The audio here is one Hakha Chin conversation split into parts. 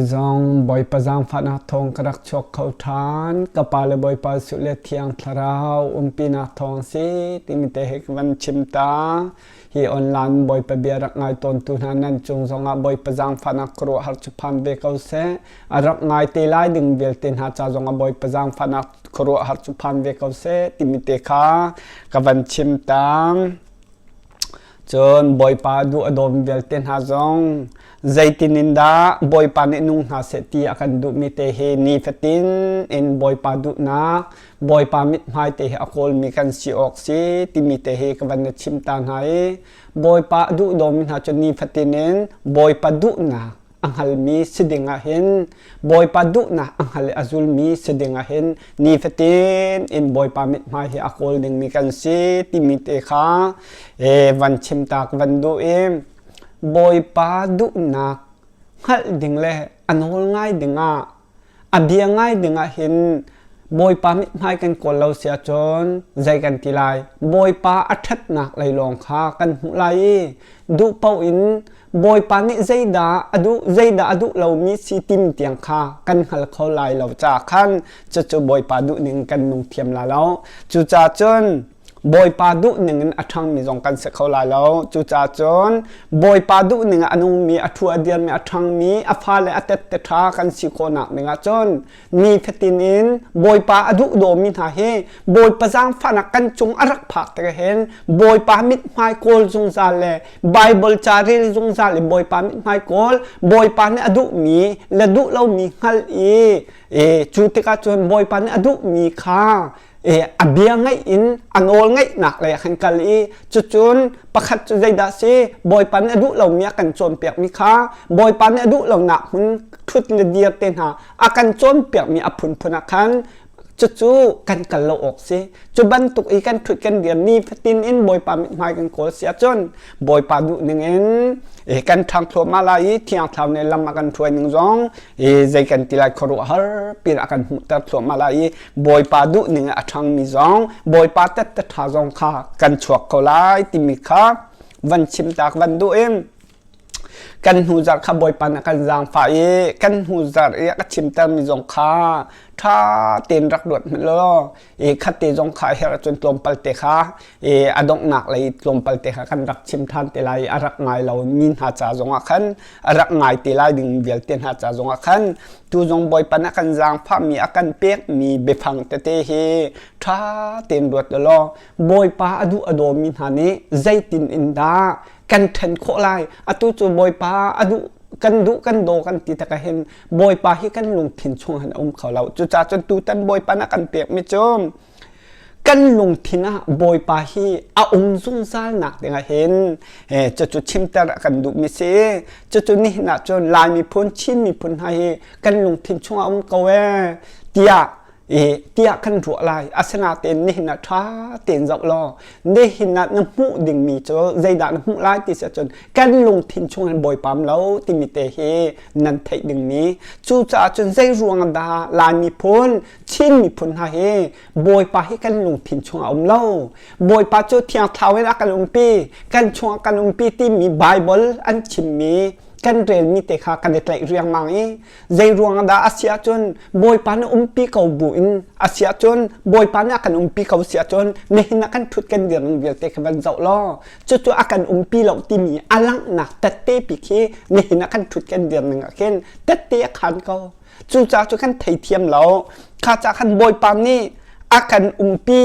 Zong Bawipa zaangfahnak thawng ka rak chuak kho ṭhan. Ka pa le Bawipa suh le thiang thlarau umpinak thawng si timi te hi ka van chim ta. Hi online Bawipa bia rak ngai tawntu hna nan cung zongah Bawipa zaangfahnak ka ruah har cu phan ve ko seh. A rak ngai te lai ding vialte hna ca zongah Bawipa zaangfahnak ka ruah har cu phan ve ko seh timi te kha ka van chim ta. Cun Bawipa duh a dawmi vialte hna zong zeitin in dah Bawipa nih nung hna seh ti a kan duhmi te hi nifatin in Bawipa duhnak Bawipa mithmai te hi a kawlmi kan si awk si timi te hi ka van na chim ta hna i Bawipa a duh dawmi hna cu nifatin in Bawipa duhnak a hngalmi si ding ah hin Bawipa duhnak a hngal i a zulmi si ding ah hin nifatin in Bawipa mithmai hi a kawl dingmi kan si timi te kha e, van chim tak van duh i Bawipa duhnak hngalh ding le a nawl ngai ding ah A bia ngai dingah hin Bawipa mit hmai kan kawl lo sia cun zei kan ti lai Bawipa a ṭhatnak lei lawng kha kan hmuh lai i duh paoh in Bawipa nih zeidah a duh zeidah a duh lomi si tim tiang kha kan hngal kho lai lo caah khan cucu Bawipa duhning kan nung thiam la lo cucaah cun Bawipa duhning in a ṭhangmi zong kan si kho lai lo. Cucaah cun Bawipa duhning ah a nungmi, a thu a dirmi, a ṭhangmi, a fale a tette ṭha kan si khawhnak dingah cun nifatin in Bawipa a duh dawmi hna hi Bawipa zaangfahnak kan cung a rak phak tik hin Bawipa mithmai kawl zungzal le Bible ca rel zungzal le Bawipa mithmai kawl Bawipa nih a duhmi le duh lomi hngal i, i cu tikah cun Bawipa nih a duhmi kha i a bia ngaih in a nawl ngaihnak lei ah khan kal i cucun pakhat cu zeidah si bawipa nih a duh lomi a kan cawnpiakmi kha bawipa nih a duh lonak hmun thut le dir te hna a kan cawnpiakmi a phunphun ah khan cucu kan kal lo awk si cu bantuk i kan thut kan dir ni fatin in bawipa mithmai kan kawl si ahcun bawipa duh ning in e kan thang thluahmah lai i thiangthlau ne lam a kan hruai ning zong e zei kan ti lai khuaruah har pin a kan hmuhter thluahmah lai i Bawipa duh ning a ṭhangmi zong Bawipa tette ṭha zong kha kan chuak ko lai timi kha van chim tak van duh in kan hnu zarh kha Bawipa na kan zaangfah i kan hnu zarh i a ka chimtermi zong kha ṭha tein rak luat hmanh law i khatte zong kha her cun tlawmpal te kha i a donghnak lei tlawmpal te kha kan rak chim ṭhan te lai i a rak ngai lo mi hna ca zongah khan a rak ngai te lai ding vialte hna ca zong ah khan tu zong bawipa na kan zaangfahmi a kan pekmi biafang tete hi ṭha tein ruat law bawipa a duh a dawmi hna nih zeitin in dah kan ṭhen khawh lai atu cu bawipa a duh kan duh kan daw kan ti tak hin bawipa hi kan lungthin chung han um kho lo cucacun tutan bawipa na kan pekmi cu kan lungthin ah bawipa hi a um zungzal nak dingah hin cucu chimter a kan duhmi si cucu nihin ah cun lai miphun chin miphun hna hi kan lungthin chungah um ko e tiah tiah kan ruah lai asinatein nihin ah tha tein zoh law nihin ah na hmuh dingmi cu zeidah na hmuh lai ti si cun kan lungthin chungin bawipam lo timi te hi nan theih dingmi cucaah cun zei ruang dah lai miphun Chin miphun hna hi bawipa hi kan lungthin chungah a um lo bawipa cu thiang thau in a kan umpi kan chungah kan umpi timi bible an chimmi kan relmi te kha kan i tlaih riangmang i zei ruang dah a si ahcun bawipa na umpi ko bu in a si ahcun bawipa nih a kan umpi ko si ahcun nihin a kan thut kan dirning vialte kha van zoh law cucu a kan umpi lo timi a langhnak tette pi khi nihin a kan thut kan dirning ah khin tette a khan ko Cuca cu kan theithiam lo. Kha ca khan Bawipa nih a kan umpi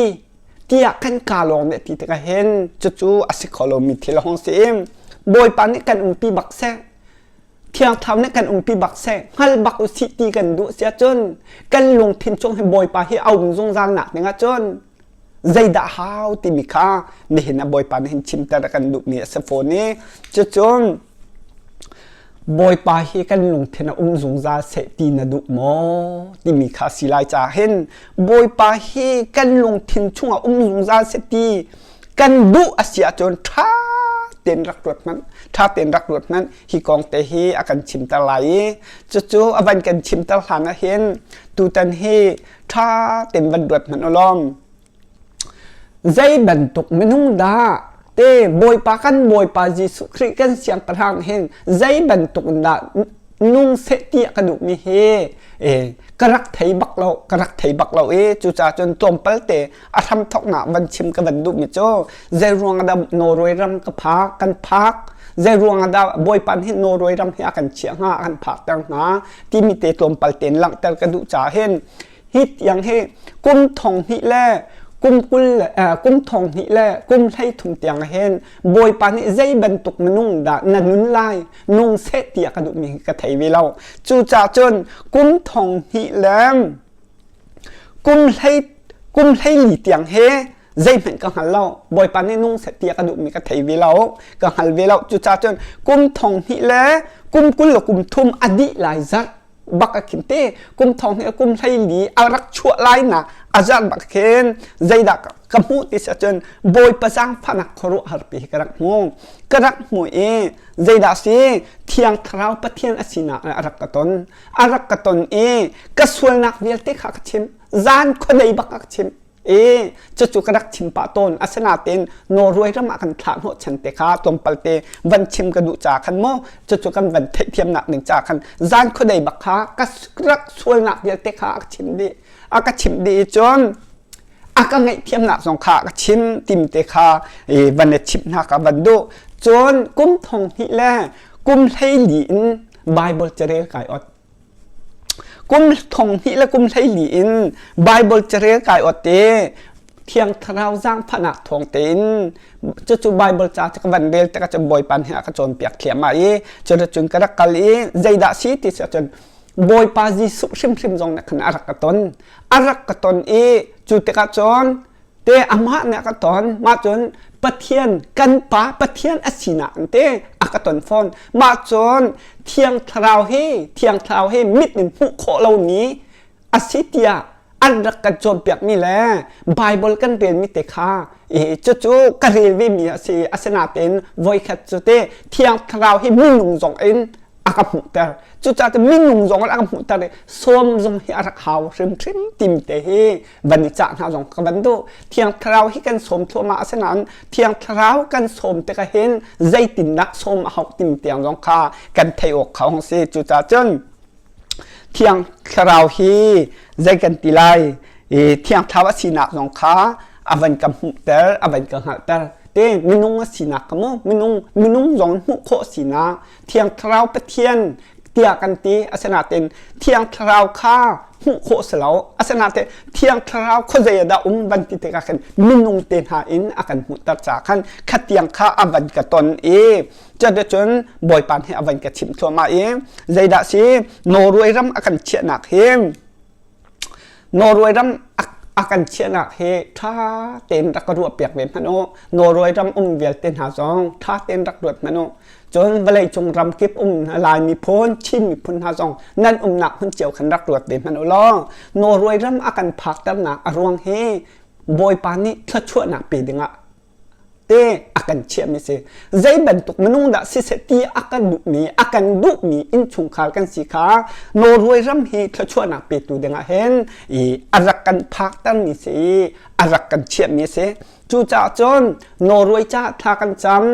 tiah kan ka lawng nih ti tikah hin cucu a si kho lomi thil hong si im. Bawipa nih kan umpi bak seh. Thiangthau nih kan umpi bak seh. Hngal bak u sih ti kan duh si ahcun kan lungthin chung hi Bawipa hi a um zungzal nak ding ahcun zeidah hau timi kha nihin a bawipa nih hin chimter kan duhmi a si fawn i cucun bawipa hi kan lungthin a um zungzal seh ti na duh maw timi kha si lai ca hin bawipa hi kan lungthin chung a um zungzal seh ti kan duh a si ahcun ṭha ten rak ruat hmanh ṭha ten rak ruat hmanh hi kong te hi a kan chimter lai i cucu a van kan chimter hlan ah hin tutan hi ṭha tein van duat hmanh u lawm zei bantuk minung dah te bawipa kan bawipa jesuh khrih kan siangpahrang hin zei bantuk in dah nung seh ti ka duhmi hi ka rak thei bak lo ka rak thei bak lo i cucahcun tlawmpalte a hramthoknak van chim ka van duhmi cu zei ruang dah Norway ram ka phak kan phak zei ruang dah bawipan hi Norway ram hi a kan chiah hnga a kan phak ter hnga timi te tlawmpal ten langhter ka duh ca hin hi tiang hi kum thong hnih le kum kul kum thong hnih le kum hlei thum tiang hin bawipa nih zei bantuk minung dah na nun lai nung seh tiah ka duhmi ka thei ve lo cucah cun kum thong hnih le kum hleili tiang he zeihmanh ka hngal lo bawipa nih nung set ti a ka duhmi ka thei ve lo ka hngal ve lo cucaah cun kum thong hnih le kum kul le kum thum a dih lai zat bak a khin te kum thong hnih kum hleili a rak chuah lai na a zat bak khin zeidah ka hmuh ti sa cun bawipa zaangfahnak khuaruah har pi ka rak hmu ka rak hmu i zeidah si thiang thlarau pathian a sinak le a rak ka ton a rak ka ton i ka sualnak vialte kha ka chim zan khuanei bak ka chim i cucu ka rak chim pah tawn asinain Norway ram ah kan thlah hnawh chan te kha tlawmpal te van chim ka duh ca khan mo cucu kan van theihthiamnak ning ca khan zan khuanei bak kha ka rak sualnak vialte kha a chim dih a ka chim dih i cun a ka ngaihthiamnak zong kha ka chim tim te kha van ne chip hna ka van du cun kum thong hnih le kum hleili in bible cere kai ot kum thong hnih le kum hleili in bible cere kai ot te thiang thlarau zang phanak thong te in cucu bible ca ca ka van rel te ka cun bawi pan he ka cawn piak thiam ma i cun cun ka rak kal i zeidah si ti sa cun Bawipa Jesuh hrimhrim zong nih khan a rak ka ton a rak ka ton i cu tikah cun te amah nih a ka ton mah cun Pathian kan pa Pathian a sinak te a ka ton fawn mah cun Thiang Thlarau hi Thiang Thlarau hi mit in hmuh khawh lomi a si tiah an rak kan cawnpiakmi le Bible kan relmi te kha i cucu ka rel vemi a si asinain voikhat cu te thiang thlarau hi minung zong in a ka hmuhter cucaah minung zong in a ka hmuhter i sawm zong hi a rak hau hrimhrim timte hi van i cah hna zong ka van duh thiang thlarau hi kan sawm thluahmah asinain thiang thlarau kan sawm tikah hin zeitinnak sawm a hauh tim tiang zong kha kan thei awk kha hong si cucaah cun Thiang Thlarau hi zei kan ti lai i Thiang Thlarau a sinak zong kha a van ka hmuhter, a van ka hngalhter. Te minung a sinak ka mu, minung minung zong hmuh khawh sinak Thiang Thlarau Pathian tiah kan ti. Asinain Thiang Thlarau kha hmuh khawh si lo. Asinain Thiang Thlarau khuazei ah dah um van ti tikah khan minung te hna in a kan hmuhter caah khan khatiang kha a van ka ton i Chan cun Bawipa he a van ka chim thluahmah i zeidah si Norway ram a kan chiahnak hi Norway ram a kan chiahnak hi ṭha tein rak ka ruah piak ve hmanh u Norway ram um vialte hna zong ṭha tein rak ruat hmanh u cun vawlei cung ram kip um Laimi phun Chin miphun hna zong nan umnak hun cio khan rak ruat ve hmanh u law Norway ram a kan phakternak a ruang hi Bawipa nih thluachuahnak pe dingah te a kan chiahmi a si zei bantuk minung dah siseh ti a kan duhmi a kan duhmi innchungkhar kan si kha Norway ram hi thluachuahnak petu dingah hin i a rak kan phaktermi si i a rak kan chiahmi a si cucaah cun Norway caah thla kan cam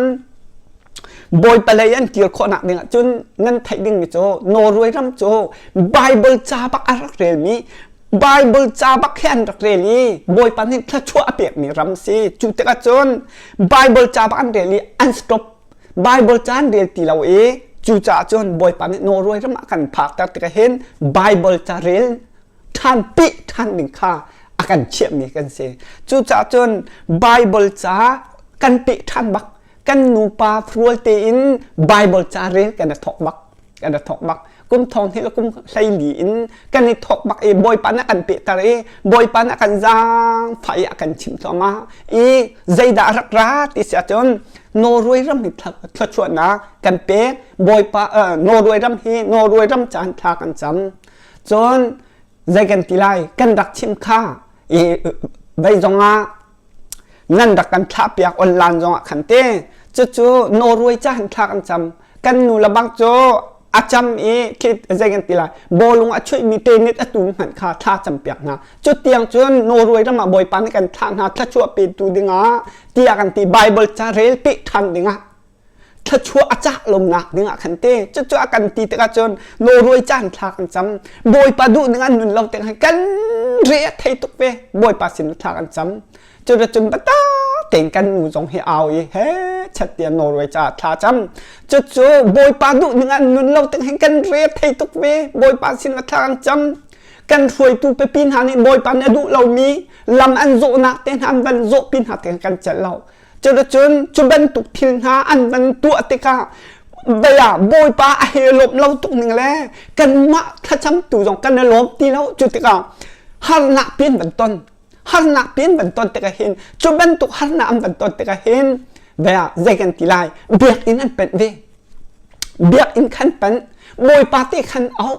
Bawipa lei an kir khawhnak ding ahcun nan theih dingmi cu Norway ram cu Bible ca bak a rak relmi Bible ca bak hian rak rel i Bawipa nih thluachuah a pekmi ram si. Cu tikah cun Bible ca bak an rel i an stop. Bible ca an rel ti lo i cucaah cun Bawipa nih Norway ram a kan phakter tikah hin Bible ca rel ṭhan pih ṭhan ding kha a kan chiahmi kan si. Cucaah cun Bible ca kan peh ṭhan bak kan nupa rual tein Bible ca rel kan i thok bak kan i thok bak kum thong hnih le kum hlei li in kan i thok bak i bawipa na kan pehter i bawipa na kan zaang fai a kan chim thluangah i zeidah rak ra ti si ahcun Norway ram hi thluachuahnak kan pek bawipa Norway ram hi Norway ram caan thla kan cam cun zei kan ti lai kan rak chim kha i veizong ah ngan rak kan thlah piak online zong ah khan te cucu Norway ca han thla kan cam kan nu le bang cu a cam i zei kan ti lai bawlung a chuih mi tenet a tu hmanh kha thla cam piak hna cu tiang cun Norway ram ah bawipa nih kan thlah hna thlachuah pe tu dingah tiah kan ti Bible ca rel pe than dingah thluachuah a cah lo ngak ding ah khan te cucu a kan ti tik ahcun nawlruai caan thla kan cam bawipa duh ning an nun lo tik khan kan re a thei tuk ve bawipa sin thla kan cam cun cun bata tein kan nu zong hi au i he chat tia norway ca thla cam cucu bawipa duh ning an nun lo tik hin kan re thei tuk ve bawipa sin ka thla kan cam kan hruaitu pipi hna nih bawipa nih a duh lomi lam an zawhnak te hna an van zawhpi hna te kan celh lo Cuticun cu bantuk thil hna an van tuah tikah baya bawipa a he lawm lo tuk ning le kanmah thlacamtu zong kan i lawm ti lo cu tikah harnak pin van ton harnak pin van ton tikah hin cu bantuk harnak an van ton tikah hin baya zei kan ti lai biakinn an panh ve biakinn khan panh bawipa te khan au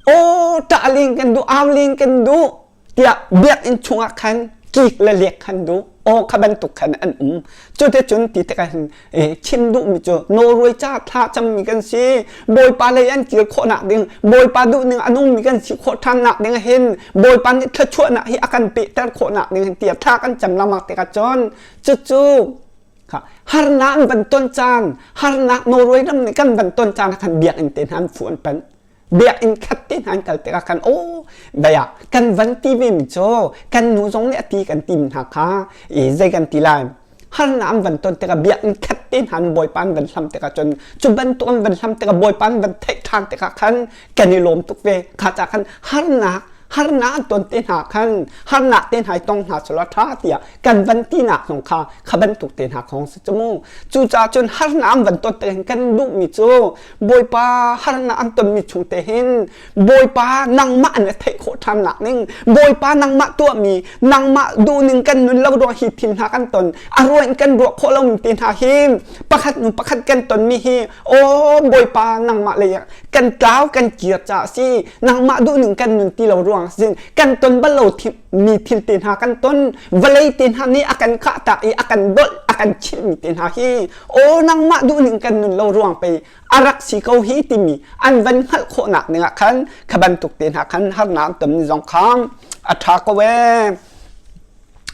aw ṭahling kan duh auling kan duh tiah biakinn chungah khan kik le leek khan duh aw kha bantuk khan an um cute cun ti tikah hin chim duhmi cu nawlruai ca thla cammi kan si bawipa lei an kir khawhnak ding bawipa duhning a nungmi kan si khawh ṭhannak ding hin bawipa nih thluachuahnak hi a kan pehter khawhnak ding hin tiah thla kan cam lama tikah cun cucu harnak an ban ton caan harnak nawlruai lam nih kan ban ton caan khan biakinn te hnan fu an panh biakinn khat te hna an kal tikah khan aw baya kan van ti ve mi cu kan nu zong nih ati kan tim hna kha i zei kan ti lai harna an van ton tikah biakinn khat te hna an bawipa an van hlam tikah cun cu bantuk an van hlam tikah bawipa an van theih ṭhan tikah khan kan i lawm tuk ve kha ca khan harnak harnak an ton te hna khan harnak te hna i tong hna solo ṭha tiah kan van tinak zong kha kha bantuk te hna khong si cu mu cucaah cun harnak an van ton tikah kan duhmi cu Bawipa harnak an tonmi chung te hin Bawipa nangmah an theih khawh ṭhan nak ning Bawipa nangmah tuahmi nangmah duhning kan nun lo ruang hi thil hna kan ton a ruang in kan ruah khawh lomi te hna hi pakhat hnu pakhat kan tonmi hi aw Bawipa nangmah lei kan tlau kan kir ca a si nangmah duhning kan nun ti lo ruang sin kan ton bal lo mi thil te hna kan ton vawlei te hna nih a kan khah tak i a kan dolh a kan chilh mi te hna hi o nangmah duh ning kan nun lo ruang pei a rak si ko hi timi an van hngalh khawh nak ning ah khan kha bantuk te hna khan harnak ton ni zong khang a tha ko e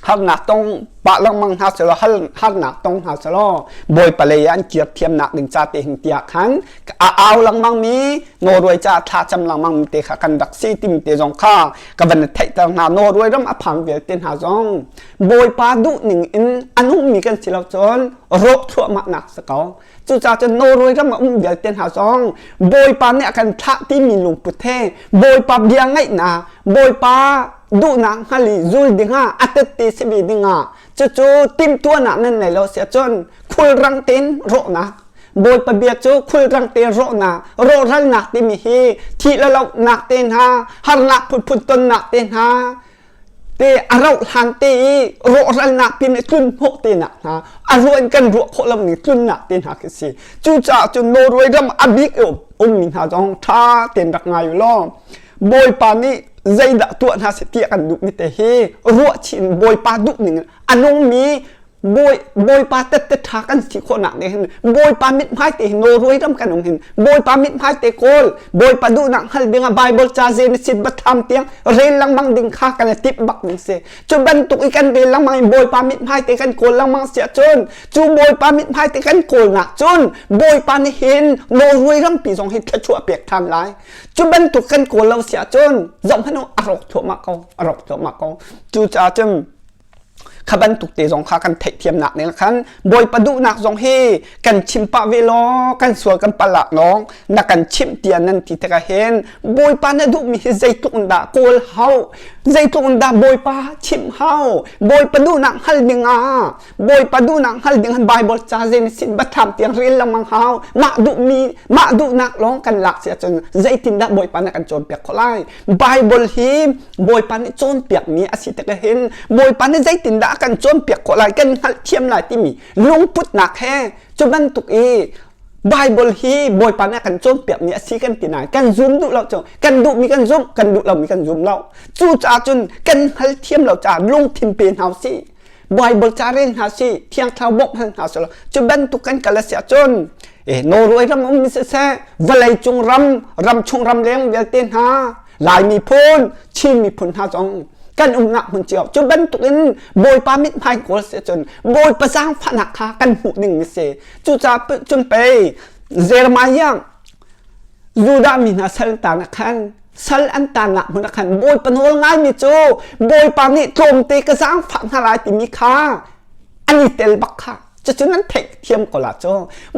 harnak tong pa langmang hna selo hal harnak tong hna selo bawi palei an kir thiam nak ding cha te hing tia khan a au lengmang mi no ruai ca thla cham lengmang mi te kha kan rak si tim te zong kha ka van theih ter hna no ruai ram a phang vialte hna zong bawipa duh ning in an um mi kan si lo cun rop thluah ma nak sa ko cuca cun no ruai ram a um vialte hna zong bawipa nih a kan thlah ti mi lungput he bawipa bia ngaihna bawipa duhnak ngali zul dingah atette sibi dingah cucu timtuanak nan nei lo sia cun khulrang tin rohnak Bawipa bia cu khulrang te rawhnak rawhralnak timi hi thih le lawmhnak te hna harnak phunphun tonnak te hna te a rauh hlan te i rawhralnak pin i tlun hnawh te nak hna a ruan kan ruah khawh lo ning tlunnak te hna khi si cucaah cun Norway ram a bik ummi hna zong ṭha ten rak ngai u law Bawipa nih zeidah tuah hna seh tiah kan duh mi te hi ruah chin Bawipa duh ning a nungmi Bawi, Bawipa tette ṭha kan si khawhnak nih hin Bawipa mithmai te hi nawlruai ram kan um hin Bawipa mithmai te kawl Bawipa duhnak hngal dingah Bible ca ze na sit batham tiang rel langmang ding kha kan i tip bak ding si cu bantuk i kan rel langmang in Bawipa mithmai te kan kawl langmang si ahcun cu Bawipa mithmai te kan kawlnak cun Bawipa nih hin nawlruai rampi zong hi thluachuah pek ṭhan lai cu bantuk kan kawl lo si ahcun zohhmanh u a rawk thluahmah ko a rawk thluahmah ko cucaah cun kha bantuk te zong kha kan theihthiamnak ning khan bawipa duhnak zong hi kan chim pah ve law kan sual kan palak nong na kan chim tian nan ti tika hen bawipa na duh mi hi zeitluk in dah kawl hau zeitluk in dah bawipa chim hau bawipa duhnak hal ding ah bawipa duhnak hal ding han bible cha zen sin batham tiang ril lamang hau mah duh mi mah duhnak lawng kan lak sia cun zeitin dah bawipa na kan cawn piak kho lai Bible hi Bawipa nih cawnpiakmi a si tikah hin Bawipa nih zeitindah a kan cawnpiak khawh lai kan hngalhthiam lai timi lungputnak he cu bantuk i Bible hi Bawipa nih a kan cawnpiakmi a si kan ti nai kan zum duh lo cu kan duhmi kan zumh kan duh lomi kan zum lo cu caah cun kan hngalthiam lo caah lungthin pe hna u si Bible caren hna si thiangthau bok hal hna selo cu bantuk kan kala sia chun e Norway ram um mi se valei cung ram ram chung ram leng vialte hna lai mi phun Chin mi phun hna zong kan umnak hmun cio cu bantuk in bawipa mit hmai kol se chun bawipa zaang fanak kha kan hmuh ning mi se cu ca cun pei Jeremiah Judah mi hna sal an taang ah khan sal an taangah hmun ah khan Bawipa nawl ngaimi cu Bawipa nih tlawmte ka zaangfah hna lai timi kha an i tel bak kha cucun an theih thiam ko la cu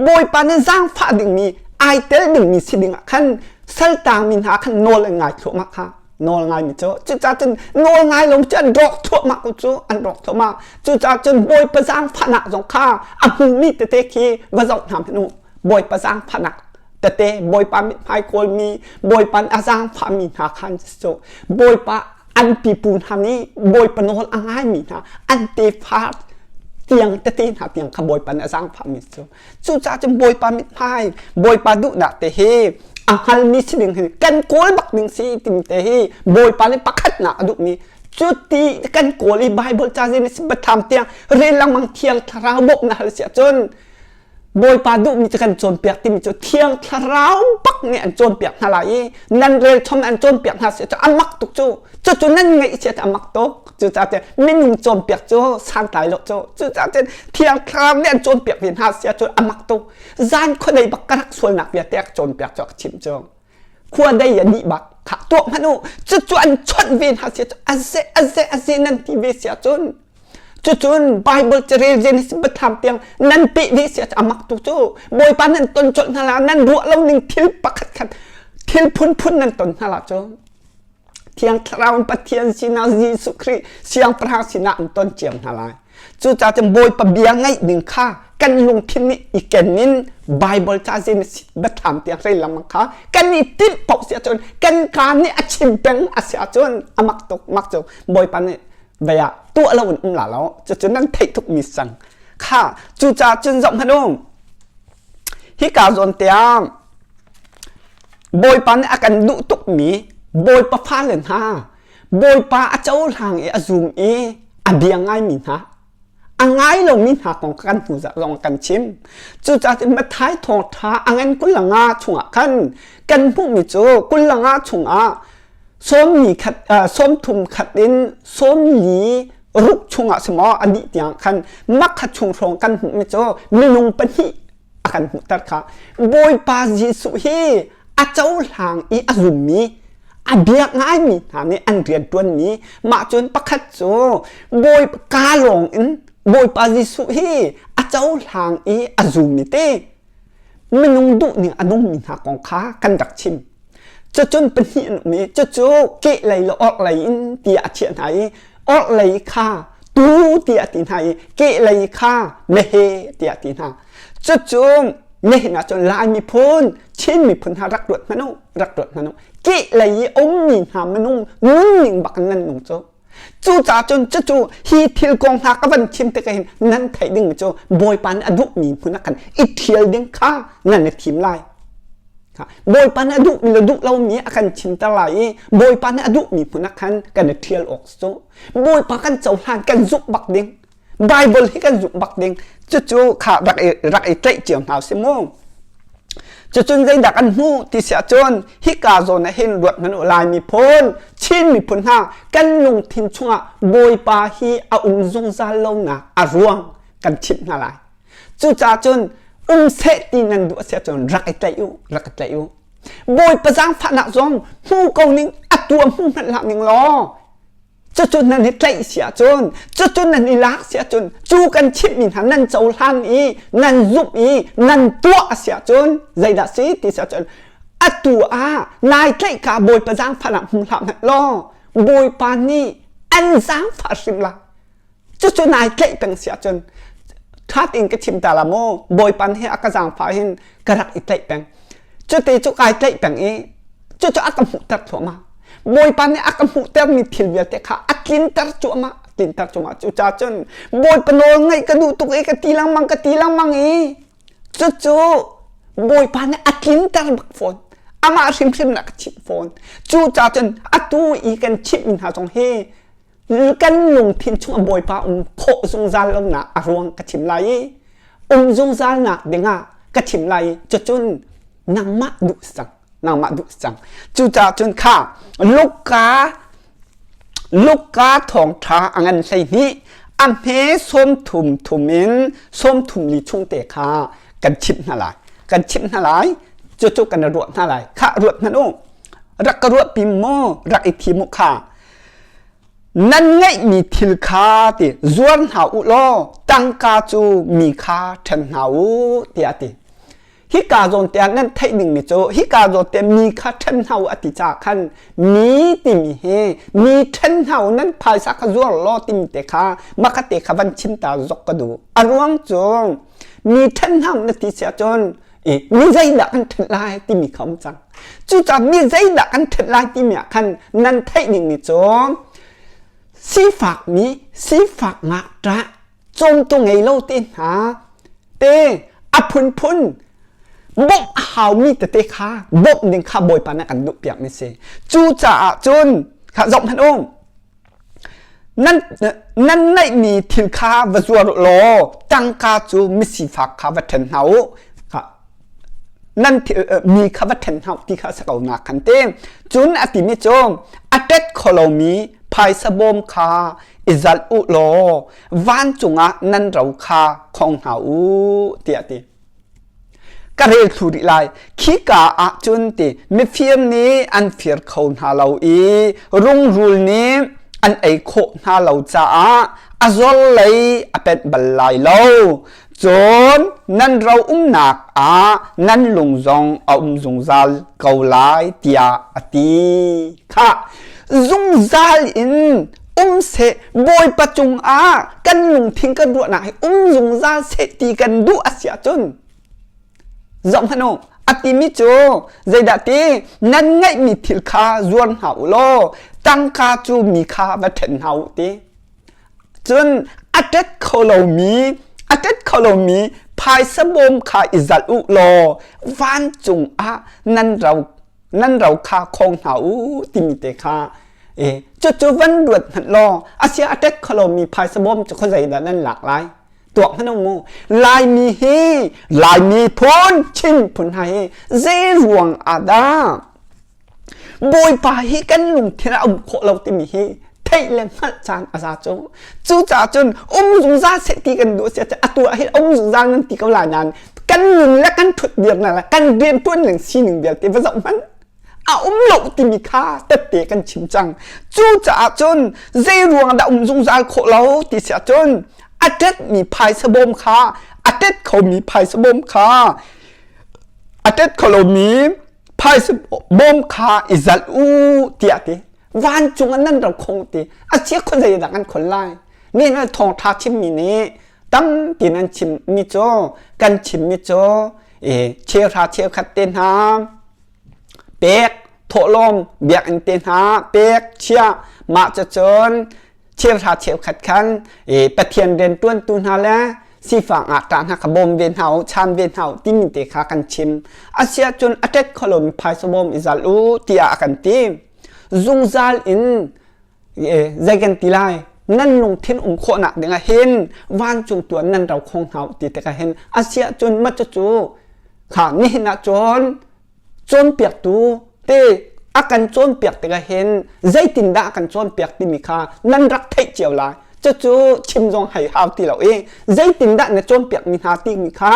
Bawipa nih zaangfah dingmi ai tel dingmi si dingah khan saltaangmi hna khan nawl an ngai thluahmah kha nawl ngaimi cu cucaah cun nawl ngai lo cu an rawk thuahmah ko cu an rawk thuahmah cucaah cun Bawipa zaangfahnak zong kha a hmumi tete khi va zoh hna hmanh u Bawipa zaangfahnak tete Bawipa mithmai kawlmi Bawipa a zaangfahmi hna khan cu Bawipa an pipu hna nih Bawipa nawl a ngaimi hna an tefa tiang tete hna tiang kha Bawipa a zaangfahmi cu cucaah cun Bawipa mithmai Bawipa duhnak te hi a hngalmi si ding kan kawl bak ding si timi te hi Bawipa le pakhatnak a duhmi cuti kan kawl i Bible cazin si batham tiang rel langmang thiang thlarau bawk na hal si ahcun Bawipa duhmi cu kan cawnpiak timi cu thiang thlarau bak nih an cawnpiak hna lai i nan rel chom an cawnpiak hna si cu a mak tuk cu cucu nan ngeih si a mak tuk cucaah cun minung cawnpiak cu santlai lo cu cucaah cun thiang thlarau nih an cawnpiak mi hna sia cu a mak tuk zan khuadei bak ka rak sualnak vialte a cawnpiak cu a ka chim cu khuadei a nih bak khah tuak hmanh u cucu an chawnh ve hna sia cu a ze a ze a ze nan ti ve sia cun Cucun Bible carel Genesis batham tiang nan peh dih si amak tu cu Bawipa nan ton colh hna la nan ruah lo ning thil pakhat khat thil phunphun nan ton hna la cu Thiang Thlarau Pathian sinah Jesuh Khrih siangpahrang sinah an ton ciam hna lai cucaah cun Bawipa bia ngaih ning kha kan lungthin nih i kenin Bible ca Genesis batham tiang rei lamang kha kan i timh paoh si ahcun kan kaa nih a chim peng a si ahcun amak tuk mak cu Bawipa nih bei ah tuah lo in um la lo cucu nan theih thuk mi sang kha cu ca cun zoh hmanh um hi ka zawn tiang bawipa nih a kan duh tuk mi bawipa fale hna bawipa a cohlang i a zum i a bia ngai mi hna a ngai lo mi hna kong kan hnu zong kan chim cucaah mathai thawng tha a ngan kulanga chungah khan kan hmuh mi cu kulanga chungah sawm thum khat in sawm li ruk chungah si maw ani tiang khan nakhat chung hrawng kan hmuhmi cu minung pahnih a kan hmuhter kha bawipa jesuh hi a cohlang i a zummi a biak ngaimi hna nih an rian ṭuanmi mah cun pakhat cu bawi ka lawng in bawipa jesuh hi a cohlang i a zummi te minung duhning a nungmi hna kong kha kan rak chim cucun pahnih an um i cucu keh lei le orh lei in tiah a thiah hna i orh lei kha tu tiah ti hna i keh lei kha mehe tiah ti hna cucu mehna cun lai miphun chin miphun hna rak ruat hmanu rak ruat hmanu keh lei i ummi hna minung nunning bak nan nung cu Cucaah cun cucu hi thil kong hna ka van chim tikah hin nan theih ding cu Bawipa nih a duhmi hmun ah khan i ṭhial ding kha nan i thim lai. Bawipa nih a duhmi le duh lomi a kan chimter lai i Bawipa nih a duhmi hmun ah khan kan i ṭhial awk cu Bawipa kan cohlan kan zumh bak ding Bible hi kan zuk bak ding cucu kha rak i rak i tlaih cio hna si mu cucun zeidah kan hmu ti sia cun hika zawn ah hin ruat hmanu lai miphun Chin miphun hna kan lungthin chungah Bawipa hi a um zungzal lonak a ruang kan chimh hna lai cucaah cun um seh ti nan duh sia cun rak i tlaih u rak i tlaih u Bawipa zangfahnak zong hmu ko ning atu a hmu hmanh ning law cucun nan i tlaih si ahcun cucun nan i lak si ahcun cu kan chimhmi hna nan cohlan i nan zumh i nan tuah a si ahcun zeidah si ti si ahcun atu ah nai tlaih ka bawipa zaangfahnak hmu hlah hmanh law bawipa nih an zaangfah hrim lai cucu nai tlaih peng si ahcun ṭhat in ka thim ta la mu bawipan he a ka zaangfah hin ka rak i tlaih peng cuti cu kai tlaih peng i cucu a ka hmuhter thluahmah bawipa nih a ka hmuhtermi thil vialte kha a tlinter cu amah tlinter cu amah cucah cun bawipa nawl ngaih ka duh tuk i ka ti lengmang ka ti lengmang i cucu bawipa nih a tlinter bak fawn amah hrimhrim na ka chimh fawn cucah cun atu i kan chimhmi hna zong hi kan lungthin chung Bawipa um khawh zungzal lonak a ruang ka thim lai i um zungzal nak dingah ka thim lai cu cun nangmah duh cang nangmah duh cang cucah cun kha Luka Luka thawngtha angan hlei hnih a hme som thum thum in som thum li chung te kha kan chimh hna lai kan chimh hna lai cu cu kan ruat hna lai kha ruat hna u rak ka ruat pim maw rak i thim u kha nan ngeihmi thil kha ti zuar hna u law tangka cu mi kha ṭhen hna u tiah a ti hika zawn te ah nan theih dingmi cu hika zawn te mi kha ṭhen hna u a ti ca khan mi timi hi mi ṭhen hna u nan phaisa kha zuar law timi te kha maka te kha van chimta zok ka duh a ruang cu mi ṭhen hna na ti sia cun mi zeidah kan ṭhen lai timi kha um cang Cucah mi zeidah kan ṭhet lai timi ah khan nan theih ning ni cu sifak mi sifak ngah ṭah cawmtu ngei lo te hna te a phunphun bawmh a haumi tete kha bawmh ding kha Bawipa nih a kan duh piak mi si cu caah cun kha zoh hmanh u nan nan neihmi thil kha va zuar law tangka cu misifak kha va ṭhen hna u nan mi kha va ṭhen hna u ti kha a si ko na kan ti cun a timi cu a tet kho lomi phaisa bawm kha i zalh u law vancung ah nan ro kha khong hna u tiah a ti ka rel thlu rih lai khika ah cun ti mifim nih an fir kho hna lo i rungrul nih an ei khawh hna lo caah a zor lei a pet bal lai lo cun nan ro umnak ah nan lung zong a um zungzal ko lai tiah a ti kha zungzal in um seh bawipa cungah kan lungthin kan ruahnak hi um zungzal seh ti kan duh a si ahcun zong hmano a timi cu zeidah ti nan ngaihmi thil kha zuar hna u law tangka cu mi kha va ṭhen hna u ti cun a tet kho lomi a tet kho lomi phaisa bawm kha i zalh u law vancung ah nan ro nan ro kha khong hna u timi te kha e cucu van ruat hmat law asia attack kholo mi phaisa bom cu kho zei dah nan lak lai tuak hnu mu laimi hi laimi phun chin phun ha hi ze ruang ada bawipa hi kan lungthin a um khawh lo timi hi theih le hngalh caan a za cu cu ca cun um zungzal se ti kan duh sia atu ah hin um zungzal nan ti ko la nan kan nun le kan thut dir na kan bian tuan ling sining vialte va zoh hman a um lo timi kha tette kan chim cang cu caah cun zei ruang dah um zungzal khawh lo ti sia cun a tet mi phaisa bom kha a tet kho mi phaisa bom kha a tet kho lo mi phaisa bom kha i zat u tiah ti vancung an nan ro khong ti a cia khon zei dah kan khol lai ni na thong tha chim mi nih tam ti nan chim mi cho kan chim mi cho e che ra che khat te na pek thawlom biak in te na pek chia ma cha chon thilra cheukhat khan Pathian rianṭuantu hna le sifang ah ṭah hna kha bawm ve hna u cham ve hna u timi te kha kan chim asiahcun a ṭet kholomi phaisa bawm i zalh u tiah a kan ti zungzal in zei kan ti lai nan lungthin um khawhnak dingah hin vancung tuan nan ro khong hna u ti tikah hin asiahcun macu cu kha nihin ah cun cawnpiaktu te a kan cawnpiak tikah hin zeitindah a kan cawnpiak timi kha nan rak theih cio lai cucu chim zong hai hau ti lo i zeitindah na cawnpiakmi hna timi kha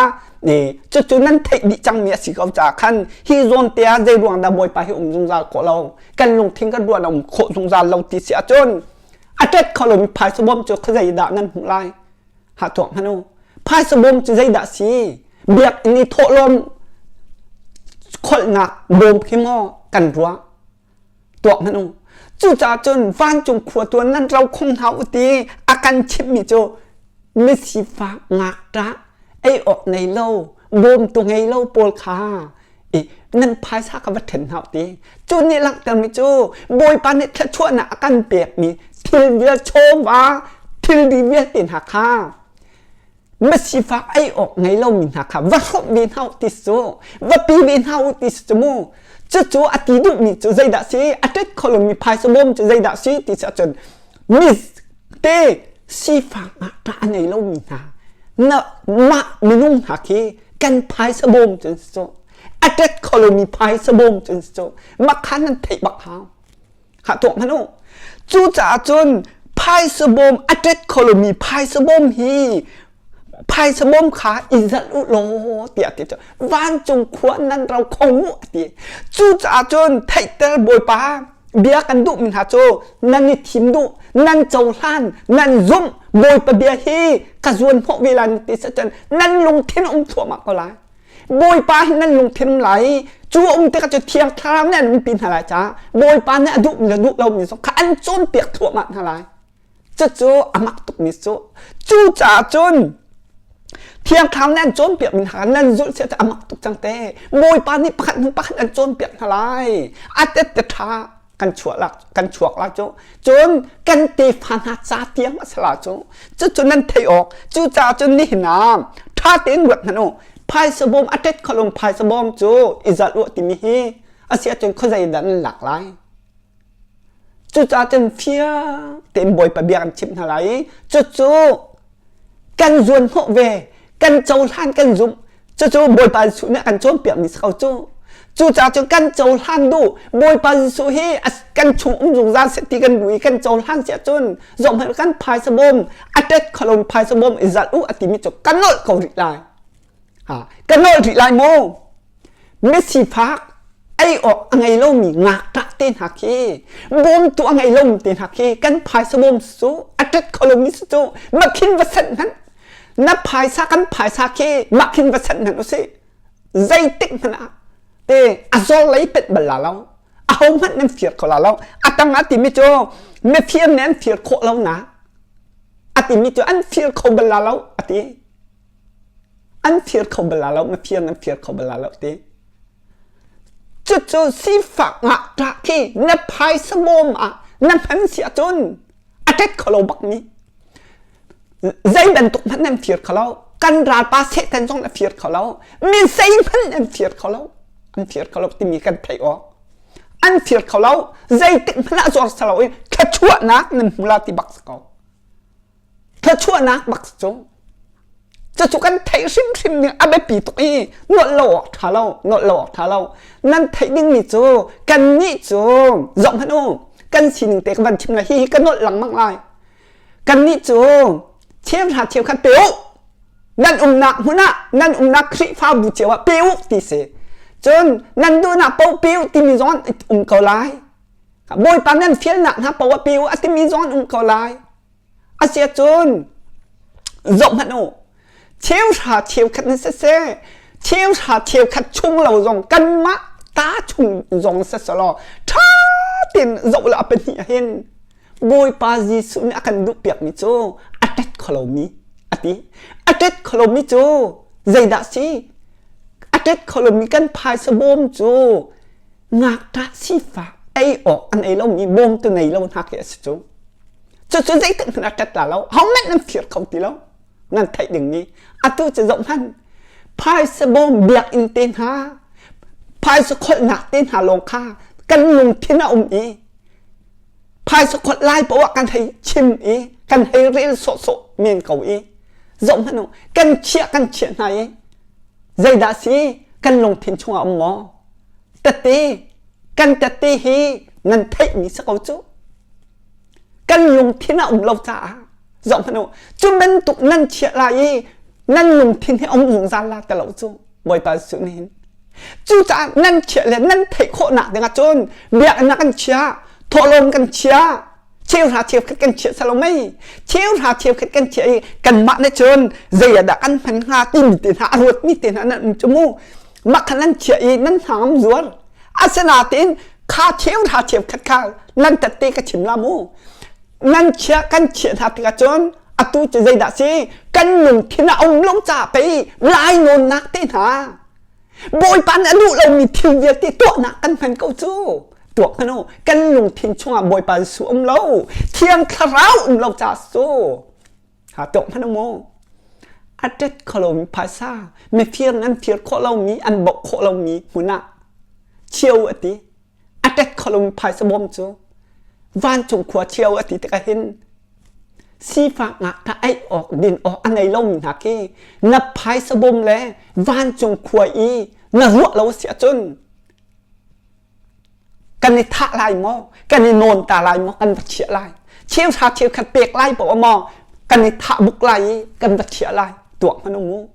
cucu nan theih dih cangmi a si ko caah khan hi zawnte ah zei ruang dah bawipa hi um zungzal khawh lo kan lungthin kan ruah a um khawh zungzal lo ti si ahcun a tet kho lomi phaisa bawm cu kha zeidah nan hmuh lai ha tuak hna lo phaisa bawm cu zeidah si biakinn i thawhlawm kholhnak bawm khi maw kan ruah tuak hna lo cucaah cun vancung khua tuan nan ro khong hna u ti a kan chimmi cu misifak ngak ta ei awk nei lo bawm tu ngei lo pawl kha i nan phaisa ka va ṭhen hna ti cu nih langhtermi cu bawipa nih thluachuahnak a kan pekmi thil vialte chawva thil di vialte hna kha masifak ei awk ngei lomi hna kha va hromh ve hna u ti su va pi ve hna u ti su mu cucu a ti duhmi cu zeidah si a ṭet kho lomi phaisa bawm cu zeidah si ti si ahcun mi te sifak ah ṭah a ngei lomi hna na mah minung hna khi kan phaisa bawm cun si cu attack kholomi phaisa bawm cun si cu makha nan theih bak ha ha tuak hmanu cu caah cun phaisa bawm attack kholomi phaisa bawm hi phaisa bawm kha izal u law tiah ti cu vancung khua nan ro khong u ti cu caah cun theihter bawipa bia kan duhmi hna cu nan i thim duh nan cohlan nan zumh bawipa bia hi ka zuan hnawh ve lai ti sa cun nan lungthin a um thluahmah ko lai bawipa hi nan lungthin lai cu a um tikah cu thiang thlarau nih an umpi hna lai caah bawipa nih a duhmi le duh lomi zong kha an cawnpiak thluahmah hna lai cucu a mak tukmi cu cu caah cun thiangthlam nih an cawnpiak mi hna nan zulh seh a mak tuk cang te bawipa nih pakhat hnu pakhat an cawnpiak hna lai a tette ṭha kan chuah lak kan chuak la cu cun kan tefa hna ca tiang a sala cu cucu nan theih awk cu caah cun nihin ah ṭha tein ruat hnan u phaisa bawm a tet kholung phaisa bawm cu i zalh u timi hi a si ahcun khuazei dah nan lak lai Cucaah cun fiang tein Bawipa bia kan chimh hna lai i cucu kan zuanhnawh ve, kan cohlan kan zumh. Cucu Bawipa Jesuh nih a kan cawnpiakmi si ko cu. Cucaah cun kan cohlan duh. Bawipa Jesuh hi kan chungum zungzal seh ti kan duh i kan cohlan si ahcun zohhmanh kan phaisa bawm, a tet kholon phaisa bawm i zalh u a timi cu kan nolh ko rih lai. ka ngol rih lai maw misifak ei awk a ngei lomi ngakṭah te hna khi bawm tu a ngei lomi te hna khi kan phaisa bawm su a ṭat kho lomi su cu makhin va sat hmanh na phaisa kan phaisa khi makhin va sat hmanh u si zeitik hmanh ah te a zor lei pet bal la lo a ho hmanh nan fir kho la lo a tang a timi cu mifir nih an fir khawh lo na a timi cu an fir kho bal la lo a ti an fir kho bala lo mafir an fir kho bala lo te cucu sifak ngah ta khi na phaisa bawm ah na hman si ahcun a tet kho lo bak mi zei bantuk hmanh nan fir kho lo kan ralpa setan zong na fir kho lo mi sei hmanh an fir kho lo an fir kho lo timi kan thei o an fir kho lo zeitik hmanh ah zor sa lo i thlachuahnak nan hmula ti bak ko thluachuahnak bak cu cucu kan theih hrimhrim ning a biapi tuk i nolh lo awk ṭha lo nolh lo awk ṭha lo nan theih dingmi cu kan nih cu zoh hmanh u kan sining te ka van chim lai hi ka nolh lengmang lai kan nih cu thiam hna thiam khan pe u nan umnak hmun ah nan umnak khrihfabu cio ah pe u ti si cun nan duhnak po pe u timi zawn um ko lai bawipa nan fialnak hna po ah pe u a timi zawn um ko lai Asiahcun zoh hmanh u, cheuhra cheukhat in siseh, cheuhra cheukhat chung lo zong kanmah ta chung zong siselaw ṭha tein zoh law a pahnih ah hin Bawipa Jesuh nih a kan duhpiakmi cu a ṭet kholomi a ti. A ṭet kholomi cu zeidah si? A ṭet kholomi kan phaisa bawm cu ngakṭah sifak ei awk an ei lomi bawmtu ngei lo hna khi a si cu cucu zeikhat hmanh a ṭat la lo hohmanh an fir kho ti lo nan theih dingmi atu cu zoh hmanh phaisa bawm biakinn te hna phaisa kholhnak te hna lawng kha kan lungthin a um i phaisa kholh lai poah kan hei chim i kan hei rel sawhsawh men ko i zoh hmanh u kan chiah kan chiah hna i zeidah si kan lungthin chungah um maw tete kan tete hi ngan theihmi si ko cu kan lungthin a um lo caah zoh hmanh u cu bantuk nan chiah lai i nan lungthin hi um zungzal la te lo cu bawipa su nin cucaah nan chiah le nan theih khawhnak dingah cun biaknak kan chia thawhlawm kan chia cheuhra cheu khat kan chiah salo mei cheuhra cheu khat kan chiah i kanmah ne cun zei adah kan hman hnga timi te hna a ruat mi te hna nan um cu mu makhan an chiah i nan hna ngam zual asinain kha cheuhra cheu khat kha nan tatte ka chim la mu nan chia kan chia hna tikah cun atu cu zeidah si kan lungthin a um lung ca pei lai nawn nak te hna Bawipa nih a duh lomi thil vialte tuahnak kan hman ko cu. Tuak hmanu, kan lungthin chungah Bawipa su um lo. Thiang thlarau um lo ca su. Ha tuak hmanu mu. Atet kholomi phasa, mifir ngan fir khawh lomi, an bok khawh lomi hmun ah. Chiau ati. a tet kholum phaisa mawm cu vancung khua cio a ti tik hin sifak ngah ta ei awk din awk a nei lomi hna khi na phaisa bom le vancung khua i na ruah lo si ahcun kan i thah lai maw kan i nawn ta lai maw kan va chiah lai chiu sa chiu khat pek lai po maw kan i thah buk lai i kan va chiah lai tuak hmanh u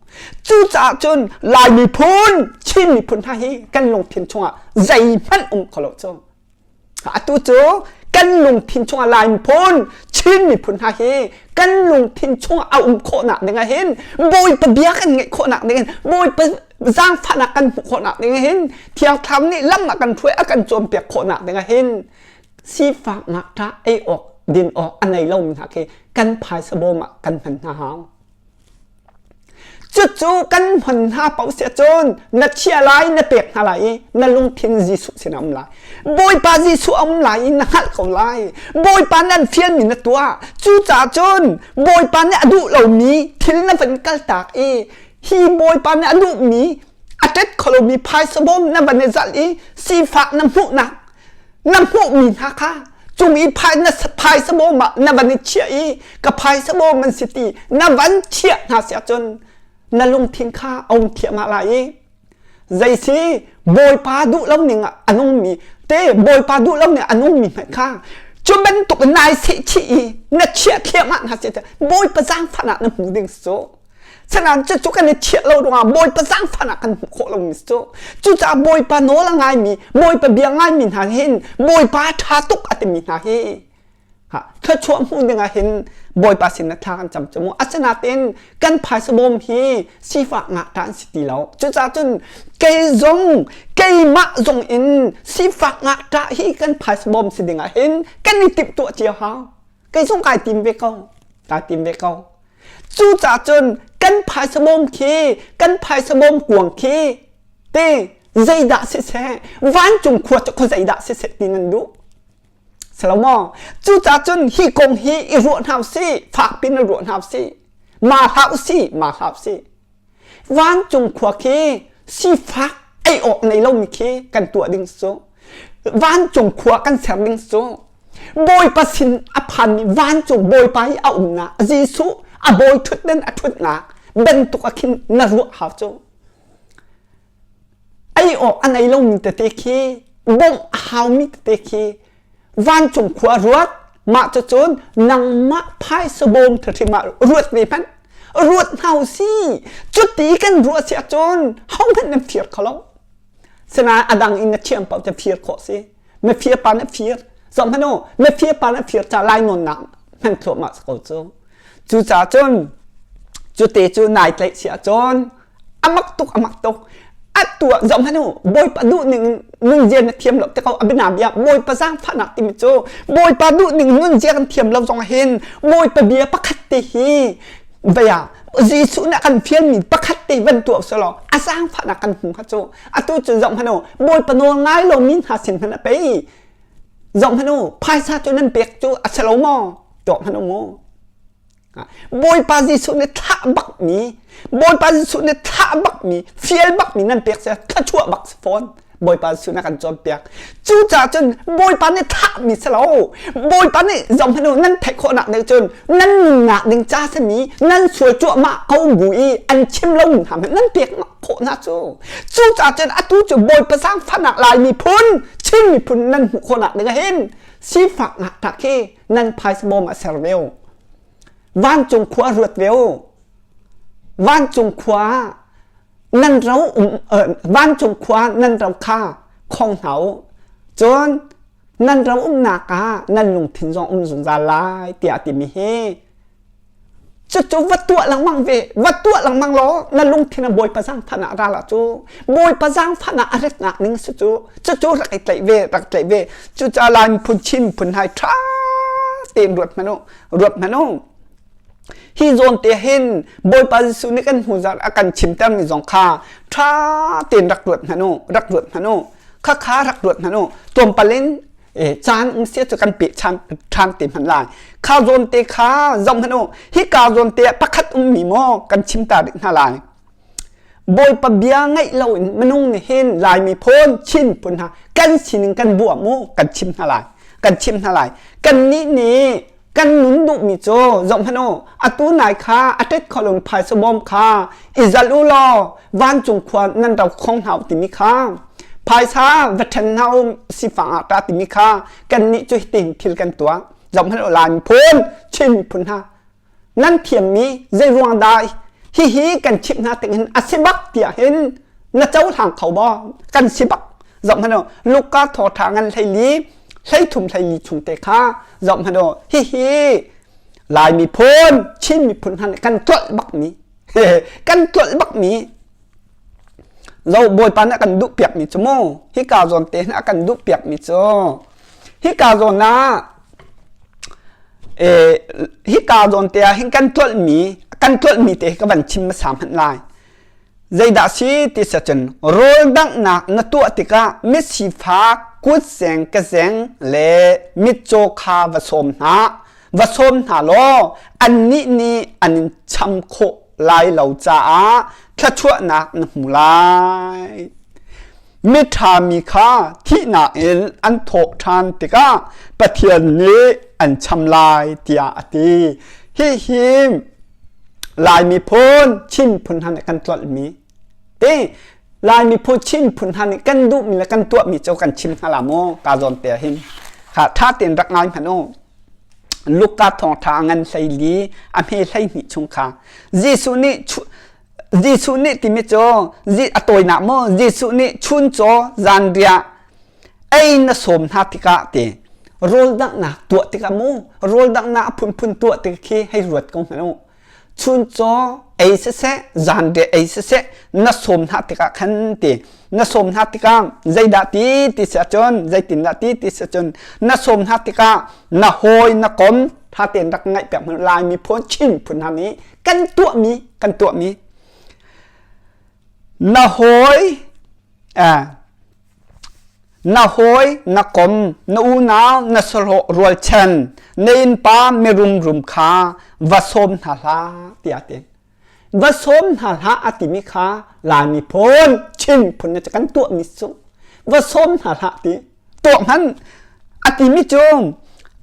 cucaah cun lai miphun chin miphun hna hi kan lungthin chungah zeihmanh um kholo cu atu cu kan lungthin chungah lai miphun chin miphun hna hi kan lungthin chungah a um khawhnak dingah hin bawipa bia kan ngeih khawhnak dingin bawipa zaangfahnak kan hmuh khawhnak dingah hin thiang thlam nih lam a kan hruai a kan cawnpiak khawhnak dingah hin sifak ngakṭah ei awk din awk a nei lomi hna khi kan phaisa bawm ah kan hman hna hau Cucu kan hman hna paoh sia cun na chiah lai na pek hna lai i na lungthin Jesuh sin a um lai. Bawipa Jesuh a um lai i na hngalh ko lai. Bawipa nih an fialmi na tuah. Cucaah cun Bawipa nih a duh lomi thil na van kaltak i hi Bawipa nih a duhmi a tet kho lomi phaisa bawm na van i zalh i sifak na hmuhnak na hmuhmi hna kha cung i phaisa bawm ah na van i chiah i ka phaisa bawm an si ti na van chiah hna si ahcun na lungthin kha a um thiamah lai i zaisi bawipa duh lo ning ah an ummi te bawipa duh lo ning an ummi hmanh kha cu bantuk nai se chi i na chiah thiamah hna si bawipa zaangfahnak na hmu ding su Sanang cu cu kan i thiah lo ruangah Bawipa zaangfahnak kan hmuh khawh lomi cu cucaah Bawipa nawl a ngaimi Bawipa bia ngaimi hna hin Bawipa ṭha tuk a timi hna hi thluachuah hmuh dingah hin Bawipa sin thla kan cam camu asinain kan phaisabawm hi sifah ngahta an si ti lo cucaah cun kei zong keimah zong in sifak ngahta hi kan phaisabawm si dingah hin kan i timhtuah cio hau kei zong kai tim ve ko kai tim ve ko cucah cun kan phaisa bawm khi kan phaisa bawm kuang khi te zeidah siseh vancung khua cu kho zeidah siseh ti nan duh salomo cucah cun hi kong hi i ruah hna u si fak pin ruah hna u si ma hlah u si ma hlah u si vancung khua khi sifak ei awk nei lomi khi kan tuah ding cu vancung khua kan ser ding cu bawipa sin a phanmi vancung bawipa i a umnak jesuh a bawi ṭhutden a ṭhutnak bantuk a khin na ruah hau cu ei awk an ei lomi tete khi bawmh a haumi tete khi vancung khua ruat mah cucun nangmah phaisa bawm thahrim ah ruat ve hmanh ruat hna u si cuti kan ruah si ahcun hohmanh nan fir kho lo sinain a dang in na thiam paoh cu fir khawh si na fir pa na fir zong hmanu na fir pa na fir ca lai nawnnak hman thluahmah ko cu cucaah cun cute cu nai tlaih si ahcun a mak tuk a mak tuk a tuah zong hanu bawipa duh ning nunzia na thiam lo te ko abina bia bawipa zaangfahnak timi cu bawipa duh ning nunzia kan thiam lo zong hin bawipa bia pakhat te hi vaya Jesuh na kan fial mi pakhat te van tu so lo a zaangfahnak kan hmu kha cu atu cu zong hanu bawipa nawl ngai lo mi hna sin hana pei zong hanu phaisa cu nan pek cu a salo mo to hanu mu Bawipa Jesuh nih thlah bakmi Bawipa Jesuh nih thlah bakmi fial bakmi nan pek seh thluachuah bak si fawn Bawipa Jesuh na kan cawnpiak cucaah cun Bawipa nih thlahmi si lo Bawipa nih zohhmanh u nan theih khawhnak nih cun nan ngah ding ca sami nan sual cuahmah ko bu i an chim lomi hna hmanh nan pek khawh hna cu cucaah cun atu cu Bawipa sangfahnak laimi phun Chin miphun nan hmuh khawhnak ding hin sifak ngah tak hi nan phais bawm a ser veu vancung khua a ruat veu vancung khua nan ro vancung khua nan ro kha khong hna u cun nan ro umnak ah nan lungthin zong um zungzal lai tiah timi hi cucu va tuah lengmang ve va tuah lengmang law na lungthin a bawipa zang phan ah ral ah cu bawipa zang phan ah a ratnak ning si cu cucu rak i tlaih ve rak tlaih ve cu ca lai phun chin phun hai ṭha tein ruat hmanu ruat hmanu hi zawn te hin bawipa jesuh nih kan hnu zar a kan chim termi zong kha ṭha tein rak ruat hmanu rak ruat hmanu kha kha rak ruat hna nu tuampal in caan um sia cu kan pe ṭhan te hman lai kha zawn te kha zong hnu hi ka zawn te pakhat um mi maw kan chim ta dik hna lai bawipa bia ngaih lo in minung ni hin lai mi phone chin pun ha kan sining kan bu mu kan chim hna lai kan chim hna lai kan ni ni kan nun duhmi cu zohhmanh u atu nai kha a tet kho lomi phaisa bawm kha i zalh u law vancung khua nan ro khong hna u timi kha phaisa va ṭhen hna u sifang ah ta timi kha kannih cu hitin thil kan tuah zohhmanh u laan phun chin phun hna nan thiammi zei ruang dah hihi kan chimh hna tingin a si bak tiah hin na cohlang kho baw kan si bak zohhmanh u luka thawṭha ngan hleili hleithum hleili chung te kha zoh hmanh u hihi lai miphun chin miphun hna nih kan tlolh bakmi kan tlolh bakmi zo bawipa nih a kan duh piakmi cu mu hika zawn te nih a kan duh piakmi cu hika zawn ah eh, hika zawn te ah hin kan tlolhmi kan tlolhmi te ka van chim hmasa hmanh lai Zeidah si ti siah cun rawl danghnak na tuah tikah misifa kutseng kezeng le mitcaw kha va sawm hna. Va sawm hna law annih nih an in cham khawh lai lo caah thluachuahnak na hmu lai. Miṭha mi kha thihnak in an thawh ṭhan tikah Pathian nih an cham lai tiah a ti. Hihi Lai miphun Chin phun hna nih kan tlolhmi te Lai miphun Chin phun hna nih kan duhmi le kan tuahmi cu kan chim hna la maw ka zawn te hin ha ṭha tein rak ngai hmanh u Luka thawngṭha a ngan hleili a hme hleihnih chung kha Jesuh nih Jesuh nih timi cu a tawinak maw Jesuh nih chun caw zanriah ei na sawm hna tikah te rawldanghnak tuah tikah mu rawldanghnak a phunphun tuah tik khi hei ruat ko hna u chun caw ei siseh zan de ei siseh na sawm hna tikah khan ti na sawm hna tikah zeidah ti ti si cun zeitindah ti ti si cun na sawm hna tikah na hawi na kom tha tein rak ngaih piak hmanh laimi phun chin phun hna nih kan tuahmi kan tuahmi na hawi eh, Na hawi na kom na unau na sahlawh rualchan na innpa mirum rum kha va sawm hna hlah tiah te va sawm hna hlah a timi kha lani phun chin phun na kan tuah mi su va sawm hna hlah ti tuah hman a timi cu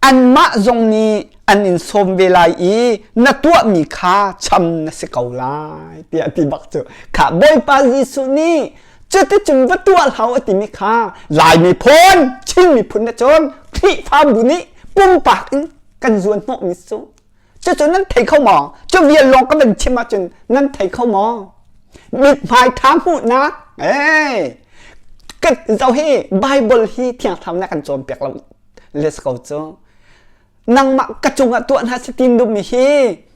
anmah zong nih an in sawm ve lai i na tuah mi kha cham na si ko lai tiah ti bak cu kha bawipa jesuh nih cuticun va tuah hau a timi kha lai miphun chin miphun na cun khrihfabu nih pumpak in kan zuan hnawhmi cu cucu nan thei kho maw cu vial lawng ka van chim ahcun nan thei kho maw mithmai ṭha hmuhnak eh zoh hi bible hi thiangthlarnak kan cawnpiak lo let's go cu nangmah ka cungah tuah hna si tin dum mi hi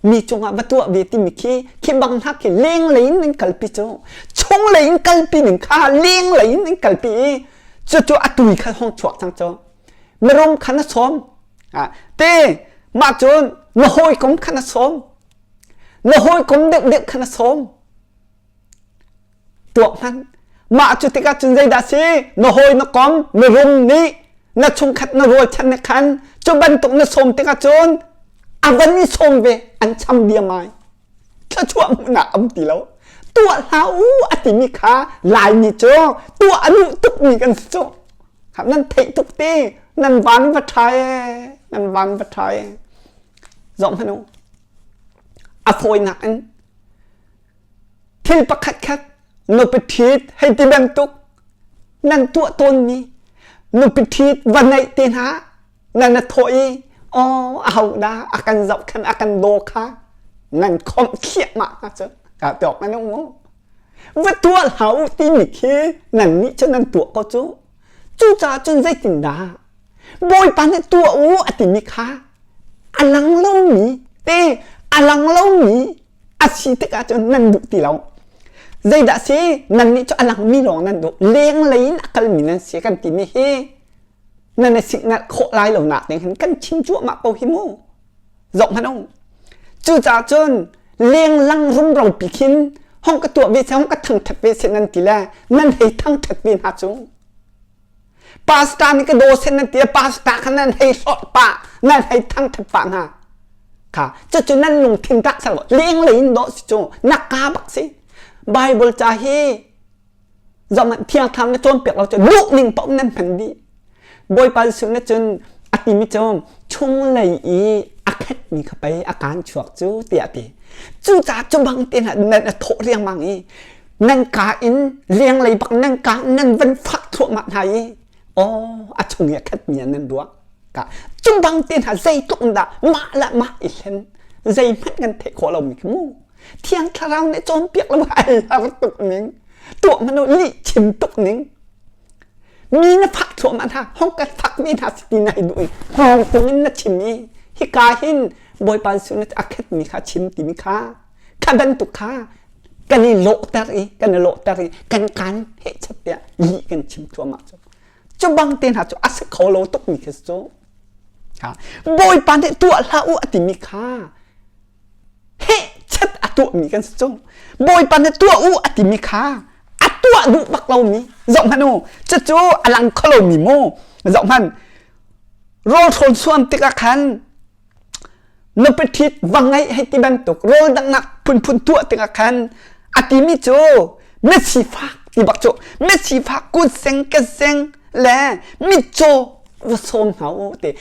mi cungah va tuah ve timi khi khi bang hna khi leng lei in nan kalpi cu chung lei in kalpi ning kha leng lei in nan kalpi i cu cu a tui kha hong chuak thang cho merom kha na som a te ma cun na hawi kom kha na som na hawi kom dek dek kha na som tuah hmanh. Mah cu tikah cun zeidah si? Na hawi na kom, na rum nih na chungkhat na rualchan nih khan cu bantuk na sawm tikah cun a van i sawm ve an cham diamai. Thluachuah hmuhnak a um ti lo. Tuah hlah u a timi kha Laimi cu tuah a luh tukmi kan si cu. Kha nan theih tuk ti nan van va ṭha e, nan van va ṭha e. Zoh hmanh u. A fawinak in Thil pakhatkhat nupi ṭhit hei ti bantuk nan tuah tawnmi nupi ṭhit va ngeih te hna na na thawh i aw aho dah a kan zohkhenh a kan daw kha nan khomh thliahmah hna cu ka tawk nan um va tuah hlah u timi khi nannih cu nan tuah ko cu cucaah cun zeitindah bawipa nih tuah u a timi kha a lang lomi te a lang lomi a si tikah cun nan duh ti lo zeidah si nannih cu a langmi lawng nan duh lenglei in a kalmi nan si kan timi hi nan i signal khawh lai lo nak ning hin kan chim cuahmah ko hi mu zoh hmanh ung cucaah cun lenglang rumro pi khin hong ka tuah ve se hong ka thangthat ve se nan ti le nan hei thangthat ve hna cu pastor nih ka dawsen nan tia pastor kha nan hei sawt pa nan hei thangthat pa hna kha cucu nan lungthin tak sang lenglei in daw si cu nak ka bak si bible ca hi zaman thiang thang na cawn piak lo cu duh ning pa um nan hman di bawipa Jesuh na cun a ti mi cu chung lei i a khat mi kha pei a kan chuak cu tiah ti cu ca cu bang te na na thawh riangmang i nangka in lenglei bak nangka nang van fak thluahmah hna i aw a chung i a khat mi nan ruak ka cumbang te hna zeitluk in dah mah la mah i hlen zeihmanh kan theih khawh lo mi khi mu thiang thlarau nih cawn piak lo hal har tuk ning tuah mano li chim tuk ning mi na fak thluahmah hna hong kan fak mi hna si ti nai duh i hong tung in na chim i hika hin bawipa Jesuh na a khat mi kha chim timi kha Thla bantuk kha kan i lawhter i kan i lawhter i kan kaan he chat tiah yi kan chim cuahmah cu cu bang te hna cu a si kho lo tuk mi khi cu bawipa nih tuah hlah u a timi kha he chat a tuah mi kan si cu bawipa nih tuah u a timi kha a tuah duh bak lo mi zoh hmanu cucu a lang kho lo mi mu zoh hman rawl hrawn suam tikah khan nupi ṭhit va ngeih hei ti bantuk rawl dangnak phunphun tuah tingah khan a timi cu mitsi fak ti bak cu mitsi fak kut seng ke seng le mitcaw va sawm hna u ti